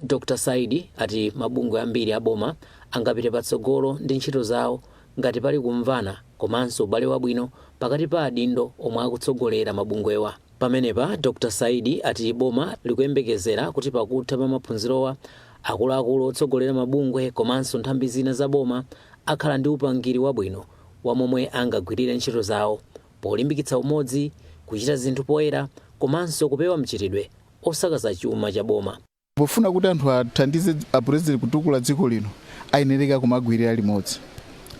Dr. Saidi ati mabungwe ambiri a boma angapite patsogolo ndi ntchito zawo ngati pali kumvana komanso ubale wabwino pakati pa adindo omwe akutsogolera mabungwewa. Pamenepa, Dr. Saidi ati boma likuyembekezera kuti pakutha pa maphunzirowa, akuluakulu otsogolera mabungwe komanso nthambi zina za boma akhala ndi upangiri wabwino wa momwe angagwirire ntchito zawo polimbikitsa umodzi, kuchita zinthu poyera komanso kupewa mchitidwe osakaza chuma cha boma. Pofuna kuti anthu athandize a President kutukula dziko lino, ayenereka kumagwirira limodzi.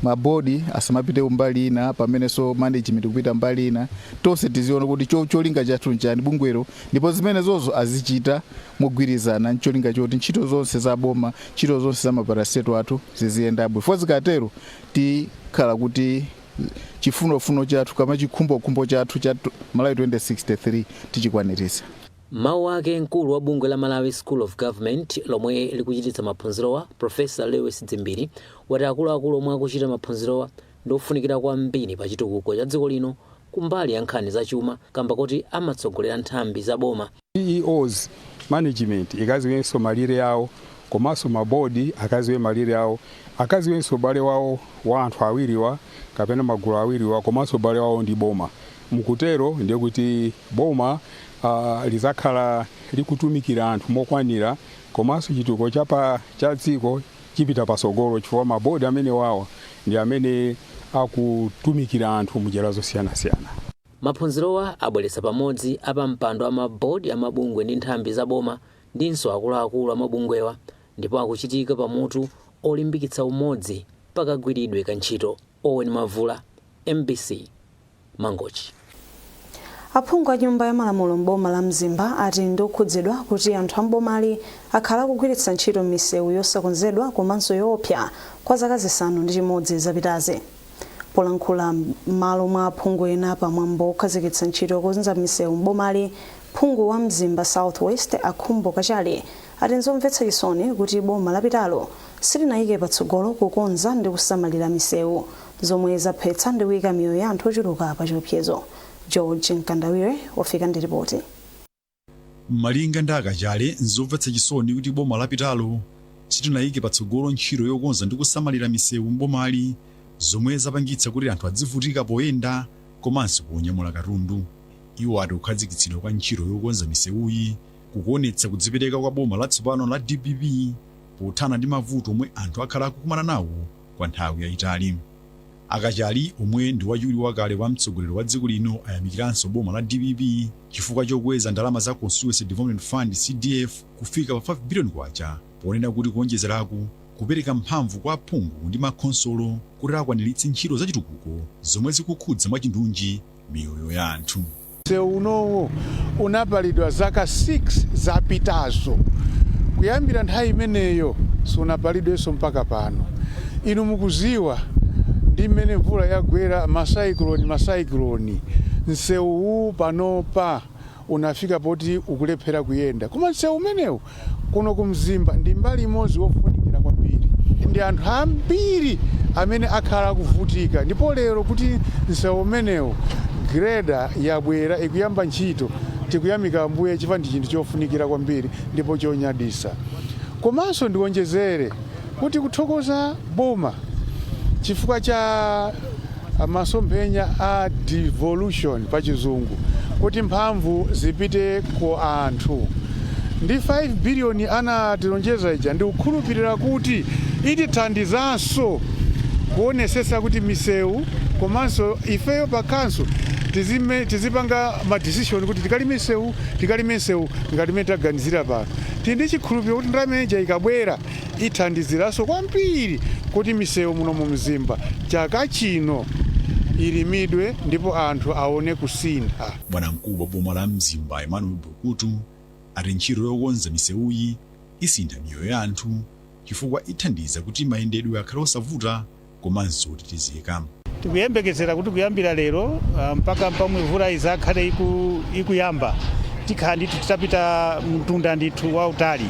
Ma board asamapite kumbali ina pamenenso management kupita mbali ina. Tonse tiziona kuti cholinga chathu nchani bungwelo ndipo zimene zozo azichita mogwirizana ncholinga choti ntchito zonse za boma, ntchito zonse za ma parastatal athu ziziyenda bwino. Chifukwa zikatero tikhala kuti. chifunofuno chathu kama chikhumbokhumbo chathu cha Malawi 2063 tichikwanilitsa. M'mawu ake mkulu wa bungwe la Malawi School of Government lomwe likuchititsa maphunzirowa Professor Lewis Dzimbiri wati akuluakulu omwe akuchita maphunzirowa ndi ofunikira kwambiri pa chitukuko cha dziko lino kumbali ya nkhani za chuma kamba koti amatsogolera nthambi za boma CEOs, management ikaziwenso malire awo komanso ma board akaziwe malire awo, akaziwenso ubale wawo wa anthu awiriwa kapena magulu awiriwa komanso ubale wawo ndi boma. Mukutero ndiye kuti boma lizakhala likutumikira anthu mokwanira komanso chitukuko cha dziko chipita patsogolo chifukwa ma board amenewawa ndi amene akutumikira anthu mnjira zosiyanasiyana. Maphunzirowa abweretsa pamodzi apampando a ma board a mabungwe ndi nthambi za boma ndinso akuluakulu a mabungwewa ndipo akuchitika pa mutu olimbikitsa umodzi pa kagwiridwe ka ntchito. Owen Mavula, mbc, Mangochi. Aphungu a nyumba ya malamulo m'boma la Mzimba ati ndi okhudzidwa kuti anthu a m'bomali akhala akugwiritsa ntchito misewu yosakonzedwa komanso yoopsa kwa zaka zisanu ndi chimodzi zapitazi. Polankhula m'malo mwa aphungu ena pa mwambo wokhazikitsa ntchito yokonza misewu m'bomali, phungu wa Mzimba South West a Khumbo Kachali ati n'zomvetsa chisoni kuti boma lapitalo silinayike patsogolo kukonza ndi kusamalira misewu, zomwe zaphetsa ndi kuyika miyoyo ya anthu ochuluka pa chiopsezo. George Mkandawire wafika ndi lipoti. Malinga ndi a Kachali, n'zomvetsa chisoni kuti boma lapitalo silinayike patsogolo ntchito yokonza ndi kusamalira misewu m'bomali zomwe zapangitsa kuti anthu adzivutika poyenda komanso ponyamula katundu. Iwo ati kukhazikitsidwa kwa ntchito yokonza misewuyi kukuonetsa kudzipereka kwa boma latsopano la dpp pothana ndi mavuto omwe anthu akhala akukumana nawo kwa nthawi yayitali. A Kachali omwe ndi wachiwiri wakale kwa mtsogoleri wa dziko lino ayamikiranso boma la dpp chifukwa chokweza ndalama za Constituency Development Fund, CDF, kufika pa K5 biliyoni ponena kuti kuonjezeraku kupereka mphamvu kwa aphungu ndi makhonsolo kuti akwaniritse ntchito zachitukuko zomwe zikukhudza mwachindunji miyoyo ya anthu. Msewu unowo unapalidwa zaka 6 zapitazo. Kuyambira nthawi imeneyo sunapalidwenso mpaka pano. Inu mukudziwa ndi mmene mvula yagwera masaikiloni masaikiloni, msewuwu panopa unafika poti ukulephera kuyenda. Koma msewu umenewu kuno ku Mzimba ndi mbali imodzi wofunikira kwambiri. Ndi anthu ambiri amene akhala akuvutika ndipo lero kuti msewu umenewu grader yabwera ikuyamba ntchito tikuyamika Ambuye chifukwa ndi chinthu chofunikira kwambiri ndipo chonyadisa. Komanso ndiwonjezere kuti kuthokoza boma chifukwa cha masomphenya a devolution pa chizungu kuti mphamvu zipite ku anthu ndi 5 billion anatilonjeza ija ndikukhulupirira kuti itithandizanso kuonesesa kuti misewu komanso ifeyo pa khanso tizipanga ma decision kuti tikalime misewu tikalime misewu ngati mene taganizira pano tindi chikhulupiriro kuti ndalama ija ikabwera ithandiziranso kwambiri kuti misewu muno mu Mzimba chaka chino ilimidwe ndipo anthu aone kusintha. Bwanamkulu wa boma la Mzimba Emmanuel Bulukutu ati ntchito yokonza misewuyi isintha miyoyo ya anthu chifukwa ithandiza kuti mayendedwe akhale osavuta komanso otetezeka. Tikuyembekezera kuti kuyambira lero mpaka pamwe mvula izakhale iku, ikuyamba tikhala ndithu titapita mtunda ndithu wautali.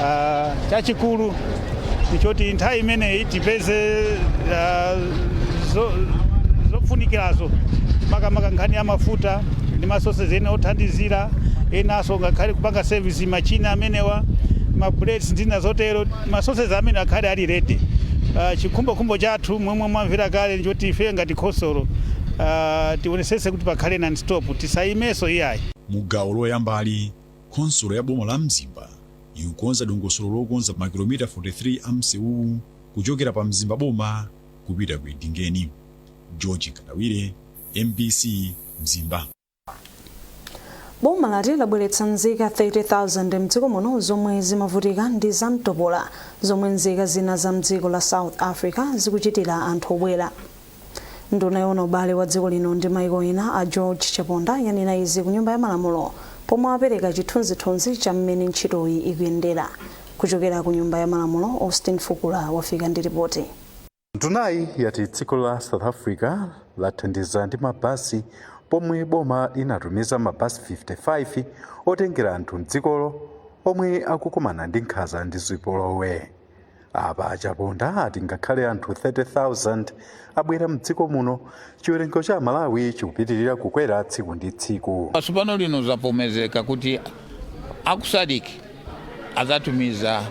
Ah, chachikulu ndichoti nthawi imeneyi tipeze ah, zo- zofunikirazo makamaka nkhani ya mafuta ndi ma sources ena othandizira enanso ngakhale kupanga sevisi machina amenewa mablades ndina zotero Ma sources amene akhale ali ready. Chikhumbokhumbo chathu momwe mwamvera kale nchoti ife ngati khonsolo tionesese kuti pakhale non stop tisayimenso iyayi. Mu gawo loyambali, khonsolo ya boma la Mzimba ikukonza dongosolo lokonza makilomita 43 a msewuwu kuchokera pa Mzimba boma kupita ku Edingeni. George Nkandawire, mbc, Mzimba. boma lati labweretsa nzika 30,000 mdziko muno zomwe zimavutika ndi zamtopola zomwe nzika zina za mdziko la south africa zikuchitira anthu obwera nduna yoona ubale wa dziko lino ndi maiko ena a george chaponda yanena izi ku nyumba ya malamulo pomwe apereka chithunzithunzi cha mmene ntchitoyi ikuyendera kuchokera ku nyumba ya malamulo austin fukula wafika ndi ripoti Ndunayi yati dziko la South Africa lathandiza ndi ma bus pomwe boma linatumiza ma bus 55 otengera anthu mdzikolo omwe akukumana ndi nkhanza ndi zipolowe. Apa a Chaponda ati ngakhale anthu 30,000 abwera mdziko muno Chiwerengo cha Amalawi chikupitirira kukwera tsiku ndi tsiku. Tsopano lino zavomezeka kuti a ku SADC adzatumiza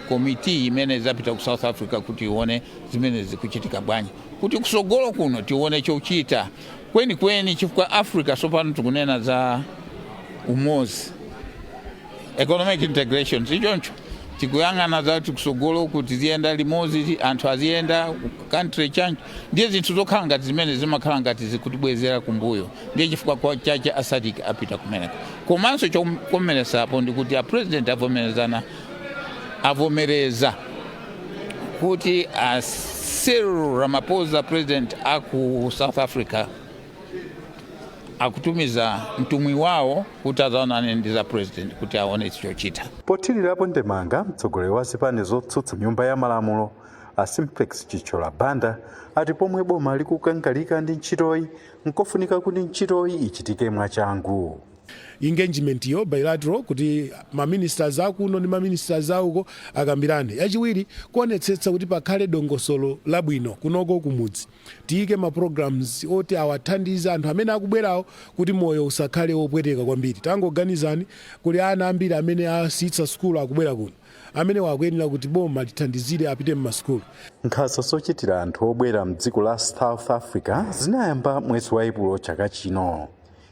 komiti imene idzapita ku South Africa kuti ione zimene zikuchitika bwanji kuti kutsogolo kuno tione chochita kwenikweni chifukwa Africa tsopano tikunena za umodzi economic integration sichoncho tikuyang'ana za kuti kutsogolo tiziyenda limodzi anthu aziyenda country change ndiye zinthu zokhala ngati zimene zimakhala ngati zikutibwezera kumbuyo ndiye chifukwa chache a SADC apita kumeneko komanso chokometsetsapo ndi kuti apresident avomereza avomereza kuti a Cyril Ramaphosa president aku South Africa akutumiza mtumwi wawo kuti adzaonane ndi a president kuti aone chochita pothirirapo ndemanga mtsogoleri wa zipani zotsutsa m'nyumba ya malamulo a simplex chithyola banda ati pomwe boma likukangalika ndi ntchitoyi nkofunika kuti ntchitoyi ichitike mwachangu engagement yo bilateral kuti ma ministers akuno ndi ma ministers auko akambirane yachiwiri kuonetsetsa kuti pakhale dongosolo labwino kunoko kumudzi Tiyike ma programs oti awathandize anthu amene akubwerawo kuti moyo usakhale wopweteka kwambiri. Tangoganizani kuli ana ambiri amene asiyitsa sukulu akubwera kuno. Amenewa akuyenera kuti boma lithandizire apite mma sukulu. Nkhanza zochitira anthu obwera mdziko la South Africa zinayamba mwezi wa Epulo chaka chino.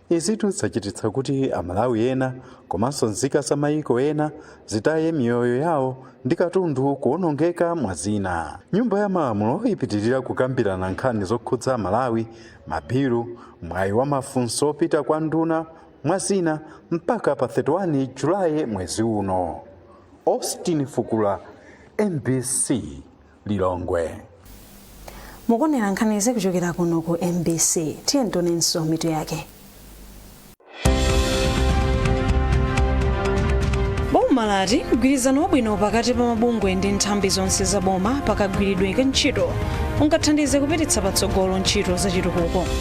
Izitu zachititsa kuti Amalawi ena komanso nzika za mayiko ena zitaye miyoyo yawo ndi katundu kuwonongeka mwa zina. Nyumba ya Malamulo ipitirira kukambirana nkhani zokhudza Amalawi, mabilu, mwayi wa mafunso opita kwa nduna, mwa zina, mpaka pa 31 July mwezi uno. Austin Fukula, mbc. lilongwe mukuonera nkhanizi kuchokera kuno ku mbc tiyeni tionenso mitu yake boma lati mgwirizano wabwino pakati pa mabungwe ndi nthambi zonse za boma pakagwiridwe ka ntchito ungathandize kupititsa patsogolo ntchito zachitukuko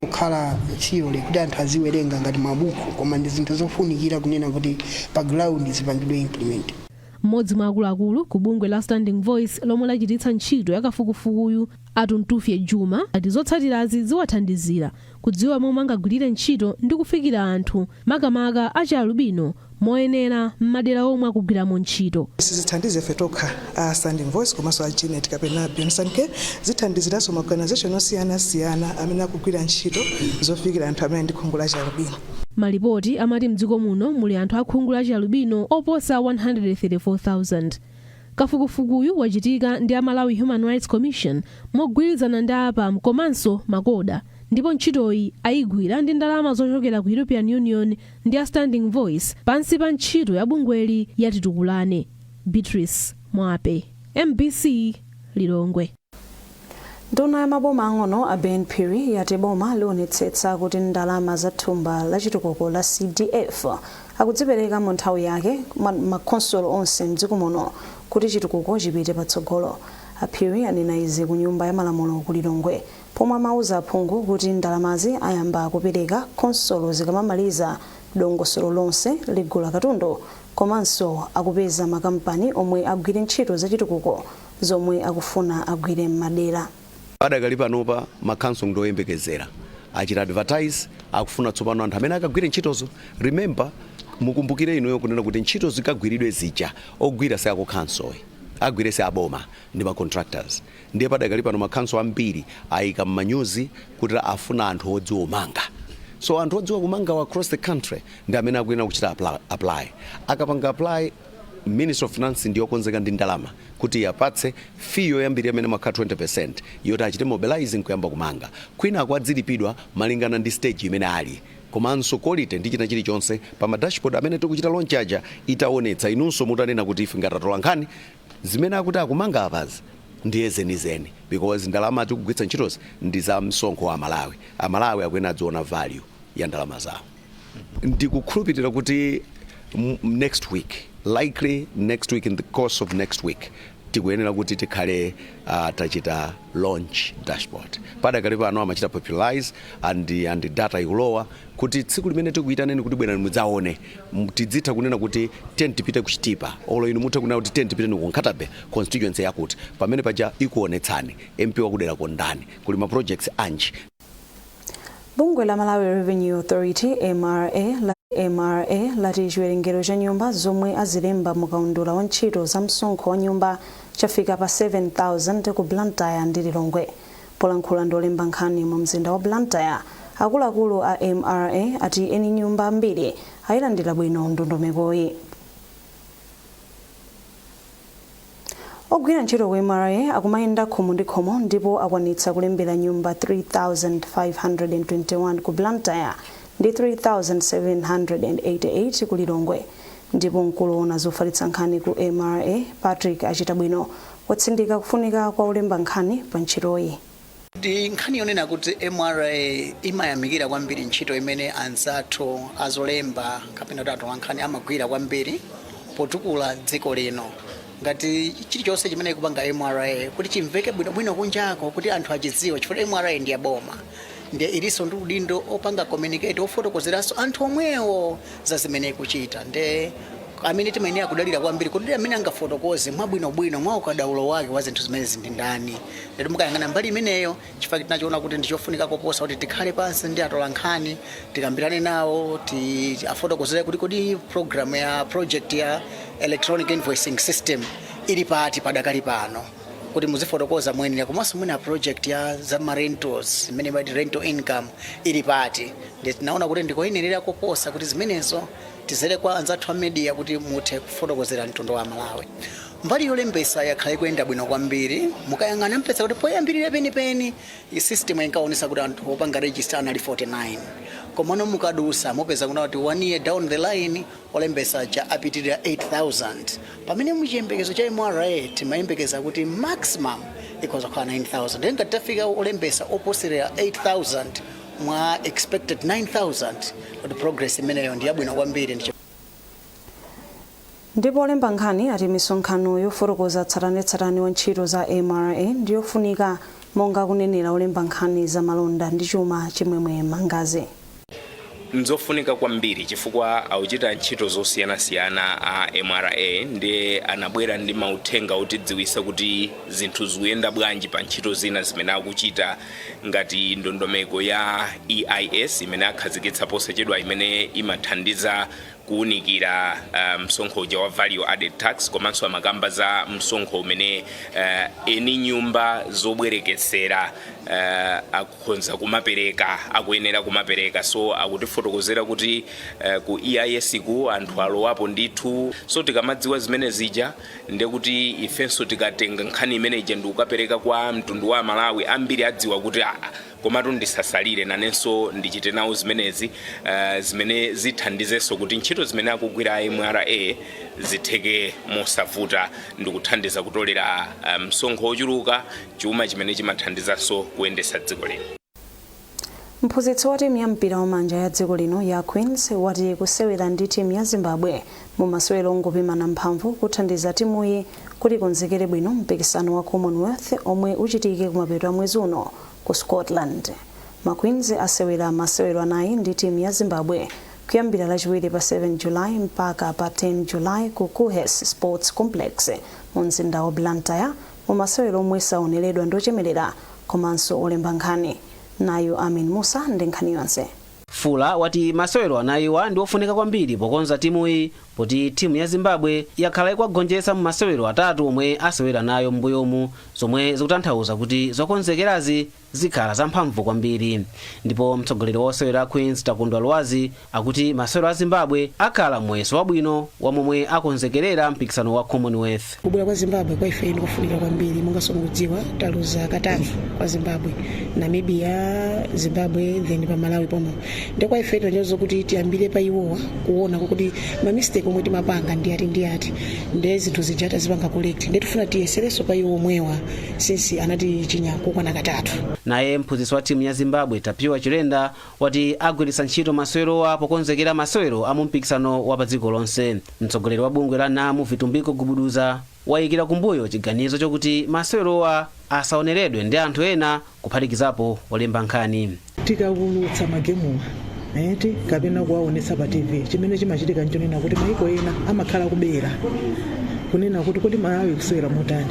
kukhala theory kuti anthu aziwerenga ngati mabuku koma ndi zinthu zofunikira kunena kuti pa ground zipangidwe implement mmodzi mwa akuluakulu ku bungwe la standing voice lomwe lachititsa ntchito yakafukufukuyu atuntufye juma ati zotsatirazi ziwathandizira kudziwa momwe angagwirire ntchito ndi kufikira anthu makamaka achialubino, moyenera m'madera omwe akugwiramo ntchito. Sizithandiza ife tokha a Standing Voice komanso a Genet kapena Beyond Care, zithandiziranso ma organisation osiyanasiyana amene akugwira ntchito zofikira anthu amene ali ndi khungu la chialubino. Malipoti amati m'dziko muno muli anthu a khungu la chialubino oposa 134,000. Kafukufukuyu wachitika ndi a Malawi Human Rights Commission mogwirizana ndi a APAM komanso MACOHA. ndipo ntchitoyi ayigwira ndi ndalama zochokera ku European Union ndi a Standing Voice pansi pa ntchito ya bungweli ya Titukulane. Beatrice Mwape, mbc Lilongwe. Nduna ya maboma ang'ono a Ben Phiri yati boma lionetsetsa kuti ndalama za thumba la chitukuko la CDF akudzipereka mu nthawi yake ma- makhonsolo onse mdziko muno kuti chitukuko chipite patsogolo. A Phiri anena izi ku nyumba ya malamulo ku Lilongwe pomwe amauza aphungu kuti ndalamazi ayamba kupereka khonsolo zikamamaliza dongosolo lonse logula katundu komanso lakupeza makampani omwe agwire ntchito zachitukuko zomwe akufuna agwire m'madera. Padakali panopa ma council ndi oyembekezera achita advertise akufuna tsopano anthu amene akagwire ntchitozo remember mukumbukire inuyo kunena kuti ntchito zikagwiridwe zija ogwira si akukhansoyi ogwira si aboma ndi ma contractors Ndiye padakali pano ma council ambiri ayika mmanyuzi kuti afuna anthu odziwa kumanga so anthu odziwa kumangawa across the country ndi amene akuyenera kuchita apply. Akapanga apply ministry of finance ndi yokonzeka ndi ndalama kuti iapatse fee yoyambilira imene imakhala 20% yoti achite mobilize nkuyamba kumanga kwinaku adzilipidwa malingana ndi stage imene ali komanso quality ndi china chilichonse pa ma dashboard amene tikuchita launch aja itawonetsa inunso mutanena kuti ife ngati atolankhani Zimene akuti akumanga apazi ndiye zenizeni because ndalama tikugwiritsa ntchitozi ndi za msonkho wa Amalawi. Amalawi akuyenera adziona value ya ndalama zawo. Ndikukhulupirira kuti next week, likely next week in the course of next week tikuyenera kuti tikhale uh, tachita launch dashboard padakali pano amachita popularize and, and data ikulowa kuti tsiku limene tikuyitaneni kuti bwerani mudzaone tidzitha kunena kuti tiyeni tipite ku chitipa olo inu mutha kunena kuti tiyeni tipite ku nkhata bay constituency yakuti pamene paja ikuonetsani mp wakuderako ndani kuli ma projects anji bungwe la malawi revenue authority mra mra lati chiwerengero cha nyumba zomwe azilemba mu kaundula wa ntchito za msonkho wa nyumba chafika pa 7000 ku blantyre ndi lilongwe Polankhula ndi olemba nkhani mu mzinda wa Blantyre, akuluakulu a mra ati eni nyumba ambiri ayilandira bwino ndondomekoyi. Ogwira ntchito ku mra akumayenda khomo ndi khomo ndipo akwanitsa kulembera nyumba 3,521 ku Blantyre ndi 3,788 ku Lilongwe ndipo mkulu owona zofalitsa nkhani ku mra Patrick Achitabwino Watsindika kufunika kwa olemba nkhani pa ntchitoyi. Ndi nkhani yonena kuti mra imayamikira kwambiri ntchito imene anzathu azolemba kapena kuti atolankhani amagwira kwambiri potukula dziko lino. Ngati chilichonse chimene ikupanga mra kuti chimveke bwinobwino kunjako kuti anthu achidziwe chifukwa mra ndi ya boma ndiye ilinso ndi udindo opanga communicate, ofotokozeranso anthu omwewo. za zimene ikuchita nde amene timayenera kudalira kwambiri kuti amene angafotokoze mwabwinobwino mwa ukadaulo wake wa zinthu zimenezi ndi ndani ndiye mukayang'ana mbali imeneyo chifukwa tinachiona kuti ndi chofunika koposa kuti tikhale pansi ndi atolankhani tikambirane nawo tiwafotokozere kuti kodi program ya project ya electronic invoicing system ili pati padakali pano kuti muzifotokoza moyenera komanso mwina project ya za ma rentals imene imati rental income ili pati ndiye tinaona kuti ndikoyenerera koposa kuti zimenezo tidzere kwa anzathu a media kuti muthe kufotokozera mtundu wa malawi mbali yolembesa yakhala ikuyenda bwino kwambiri mukayang'ana mupeza kuti poyambirira penipeni system inkaonetsa kuti anthu opanga register anali 49 komano mukadusa mupeza kuna kuti one year down the line olembesa aja apitirira 8000 pamene muchiyembekezo cha mra timayembekeza kuti maximum ikhoza kukhala 9000 nde ngati tafika olembesa oposerera 8000 mwa expected 9000 kuti progress imeneyo ndi yabwino kwambiri ndipo olemba nkhani ati misonkhano yofotokoza tsatanetsatane wa ntchito za mra ndi yofunika monga akunenera olemba nkhani za malonda ndi chuma chimwemwe mangazi nzofunika kwambiri chifukwa akuchita ntchito zosiyanasiyana a mra ndiye anabwera ndi mauthenga otidziwisa kuti zinthu zikuyenda bwanji pa ntchito zina zimene akuchita Ngati ndondomeko ya EIS imene akhazikitsa posachedwa imene imathandiza kuunikira uh, msonkho uja wa value added tax komanso amakamba za msonkho umene uh, eni nyumba zobwerekesera uh, akukhonza kumapereka akuyenera kumapereka so akutifotokozera kuti uh, ku EIS-ku anthu alowapo ndithu so tikamadziwa zimene zija nde kuti ifenso tikatenga nkhani imene ija ndikukapereka kwa mtundu wa amalawi ambiri adziwa kuti aa komatu ndisasalire nanenso ndichite nawo zimenezi uh, zimene zithandizenso kuti ntchito zimene akugwira mra zitheke mosavuta ndikuthandiza kutolera uh, msonkho wochuluka chuma chimene chimathandizanso kuyendetsa dziko lino Mphunzitsi wa timu ya mpira wamanja ya dziko lino ya Queens wati kusewera ndi timu ya Zimbabwe mu masewero ongopimana mphamvu kuthandiza timuyi kuti ikonzekere bwino mpikisano wa Commonwealth omwe uchitike kumapeto a mwezi uno ku Scotland. Ma Queens asewera masewero anayi ndi timu ya Zimbabwe kuyambira lachiwiri pa 7 July mpaka pa 10 July ku Kuhes Sports Complex mu mzinda wa Blantyre Mu masewero omwe saoneredwa ndi ochemelera komanso olemba nkhani, nayu Amin Mussa ndi nkhani yonse. Fuller wati masewero anayiwa ndi ofunika kwambiri pokonza timuyi poti timu ya Zimbabwe yakhala ikuwagonjetsa mu masewero atatu omwe asewera nayo m'mbuyomu zomwe zikutanthauza kuti zokonzekerazi zikhala za mphamvu kwambiri ndipo mtsogoleri wa osewera a Queens Takondwa Lwazi akuti masewero a Zimbabwe akhala muyeso wabwino wa momwe akonzekerera mpikisano wa Commonwealth. kubwera kwa zimbabwe kwa ife ndikofunika kwambiri monganso mukudziwa taluza katatu kwa zimbabwe namibia zimbabwe then pa malawi pomwe nde kwa ife tinaonano kuti tiyambire pa iwowa kuona kuti mamistake omwe timapanga ndi ati ndi ati ndi zinthu zija tazipanga correct nde tifuna tiyeserenso pa iwo omwewa since anatichinya kokwana katatu naye mphunzitsi wa timu ya zimbabwe tapiwa chilenda wati agwiritsa ntchito masewerowa pokonzekera masewero a mumpikisano wa pa dziko lonse mtsogoleri wa bungwe la nam vitumbiko gubuduza wayikira kumbuyo chiganizo chokuti masewerowa asaoneredwe ndi anthu ena kuphatikizapo olemba nkhani tikaulutsa magemuwa eti kapena kuwaonetsa pa tv chimene chimachitika nchonena kuti maiko ena amakhala akubera kunena kuti kodi malawi ikusewera motani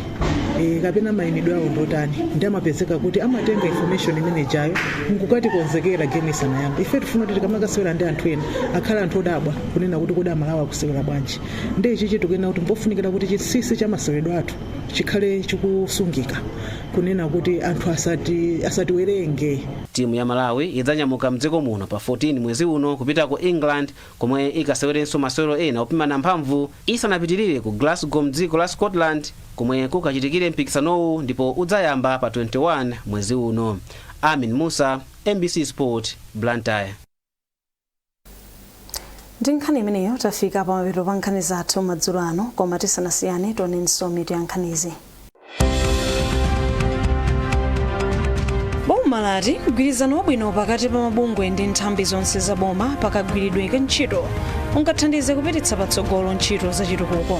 e, kapena mayimidwe awo ndotani nde amapezeka kuti amatenga information imene ijayo nkukatikonzekera game isanayambe ife tifuna kuti tikamakasewera ndi anthu ena akhala anthu odabwa kunena kuti kodi amalawi akusewera bwanji nde nchichi tikunena kuti mpofunikira kuti chinsinsi cha maseweredwe athu chikhale chikusungika kunena kuti anthu asati asatiwerenge timu ya malawi idzanyamuka mdziko muno pa 14 mwezi uno kupita ku england komwe ikasewerenso masewero ena opimana mphamvu isanapitirire ku glasgow mdziko la scotland komwe kukachitikire mpikisanowu ndipo udzayamba pa 21 mwezi uno amin musa mbc sport blantyre ndi nkhani imeneyo tafika pamapeto pa nkhani zathu madzulo ano koma tisanasiyane tionenso mitu ya nkhanizi boma lati mgwirizano wabwino pakati pa mabungwe ndi nthambi zonse za boma pakagwiridwe ka ntchito ungathandize kupititsa patsogolo ntchito za chitukuko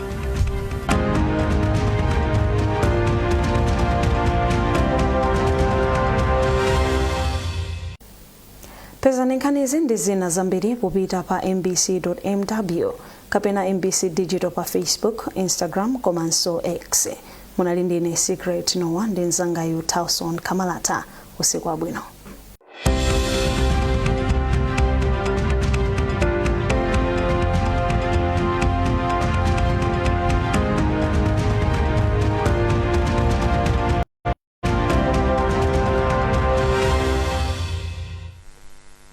pezani nkhanizi ndi zina zambiri popita pa mbc.mw kapena mbc digital pa facebook instagram komanso x munali ndine secret nowa ndi mzangayu townson kamalata usiku wabwino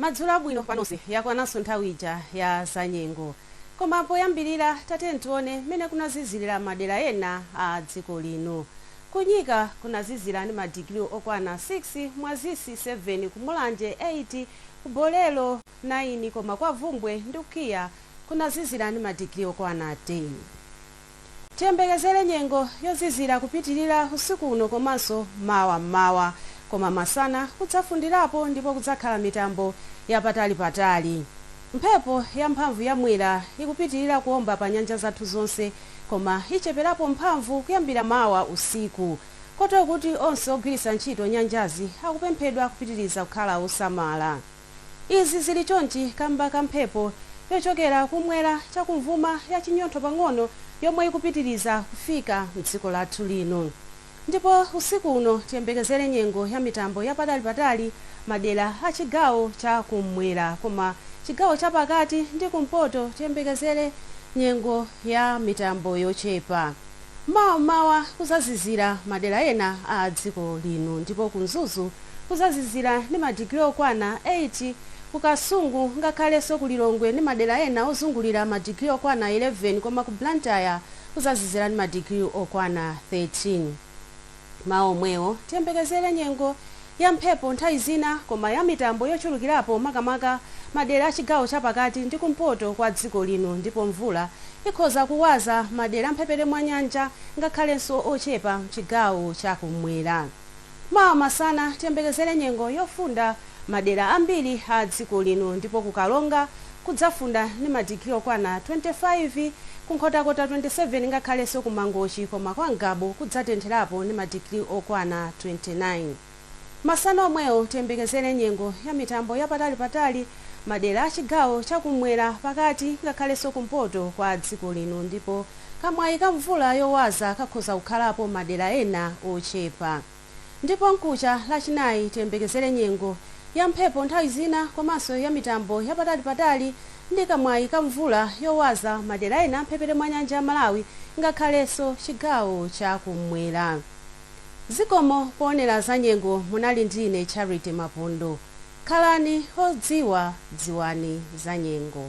madzulo abwino panonse yakwananso nthawi ija ya zanyengo koma poyambirira tatiyeni tione mmene kunazizirira madera ena a dziko lino Ku Nyika kunazizira ndi ma digiri okwana 6, Mwazisi 7, ku Mulanje 8, ku Bolero 9 koma kwa Bvumbwe ndi ku KIA kunazizira ndi ma digiri okwana 10. Tiyembekezere nyengo yozizira kupitilira usiku uno komanso mawa m'mawa koma masana kudzafundirapo ndipo kudzakhala mitambo ya patali patali. Mphepo yamphamvu ya Mwera ikupitilira kuomba pa nyanja zathu zonse koma icheperapo mphamvu kuyambira mawa usiku kotero kuti onse ogwiritsa ntchito nyanjazi akupemphedwa kupitiriza kukhala osamala. Izi zili chonchi kamba ka mphepo yochokera kumwera chakumvuma ya chinyontho pang'ono yomwe ikupitiriza kufika mdziko lathu lino. Ndipo usiku uno tiyembekezere nyengo ya mitambo ya patali patali madera a chigawo cha kum'mwera koma chigawo cha pakati ndi kumpoto tiyembekezere nyengo ya mitambo yochepa. Mawa m'mawa kuzazizira madera ena a dziko lino ndipo ku Mzuzu kuzazizira ndi ma digiri okwana 8, ku Kasungu ngakhalenso ku Lilongwe ndi madera ena ozungulira ma digiri okwana 11 koma ku Blantyre, kuzazizira ndi madigiri okwana 13. M'mawa omwewo, tiyembekezere nyengo ya mphepo nthawi zina koma ya mitambo yochulukirapo makamaka madera a chigawo chapakati ndi kumpoto kwa dziko lino ndipo mvula ikhoza kuwaza madera a mphepete mwa nyanja ngakhalenso ochepa m'chigawo cha kum'mwera. Mawa masana tiyembekezere nyengo yofunda madera ambiri a dziko lino ndipo ku Karonga kudzafunda ndi madigiri okwana 25, ku Nkhotakota 27 ngakhalenso ku Mangochi koma kwa Ngabu kudzatentherapo ndi madigiri okwana 29. Masana omwewo tiyembekezere nyengo ya mitambo ya patalipatali madera a chigawo cha kummwera, pakati ngakhalenso kumpoto kwa dziko lino ndipo. kamwayi ka mvula yowaza kakhoza kukhalapo madera ena ochepa. Ndipo mkucha Lachinayi tiyembekezere nyengo ya mphepo nthawi zina komanso ya mitambo ya patalipatali ndi kamwayi ka mvula yowaza madera ena a m'mphepete mwa nyanja ya Malawi ngakhalenso chigawo cha kummwera. Zikomo poonera zanyengo munali ndi ine Charity Mapondo. Khalani odziwa dziwani zanyengo.